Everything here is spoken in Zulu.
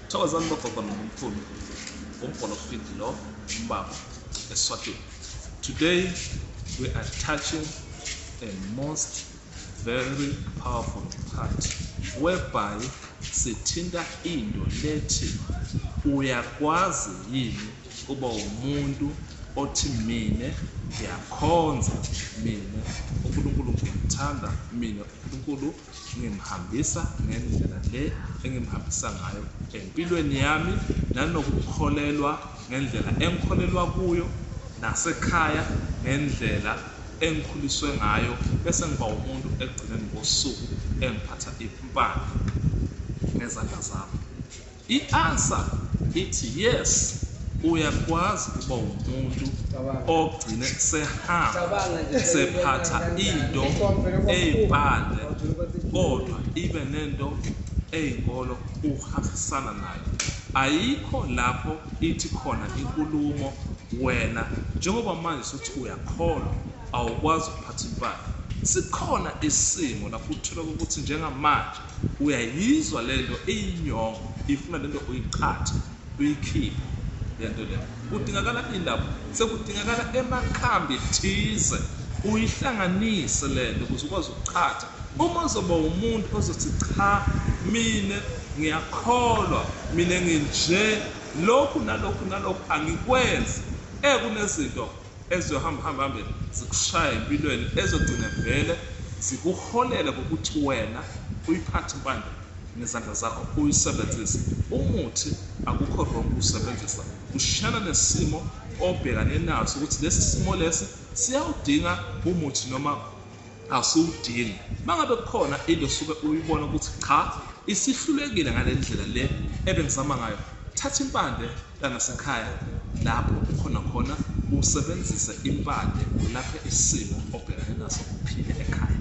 thokozani bogogo nomkhulu umbhola ofidi lo umbaba eswatini today we are touching a most very powerful part whereby sithinta into lethi uyakwazi yini kuba umuntu othi mina ngiyakhonza mina unkulunkulu ngiyamthanda mina unkulunkulu ngimhambisa ngendlela le engimhambisa ngayo empilweni yami nanokukholelwa ngendlela engikholelwa kuyo nasekhaya ngendlela engikhuliswe ngayo bese ngiba umuntu ekugcineni kosuku engiphatha impande ngezandla zami I answer ithi yes uyakwazi ukuba umuntu ogcine sehamba sephatha into eyipande kodwa ibe nento eyinkolo uhambisana nayo ayikho lapho ithi khona inkulumo wena njengoba manje sothi uyakholwa awukwazi ukuphatha impahla sikhona isimo lapho uthola ukuthi njengamanje Uyayizwa lento iyinyongo ifuna lento uyiqhathe uyikhiphe lento le kudingakala indaba sekudingakala emakhambi thize uyihlanganise lento ukuze ukwazi ukuqhatha uma uzoba umuntu ozothi cha mina ngiyakholwa mina nginje lokhu nalokhu nalokhu angikwenzi ekunezinto eziyohamba hamba hambe zikushaye empilweni ezogcina vele zikuholele kokuthi wena uyiphathe impande ngezandla zakho uyisebenzise umuthi akukho wrong ukusebenzisa kushiyana nesimo obhekane naso ukuthi lesi simo lesi siyawudinga umuthi noma Asiwudingi. Mangabe kukhona into osuke uyibona ukuthi cha isihlulekile ngalendlela le ebengizama ngayo thatha impande langasekhaya lapho ukhona khona usebenzise impande lapho isimo obhekane naso uphile ekhaya.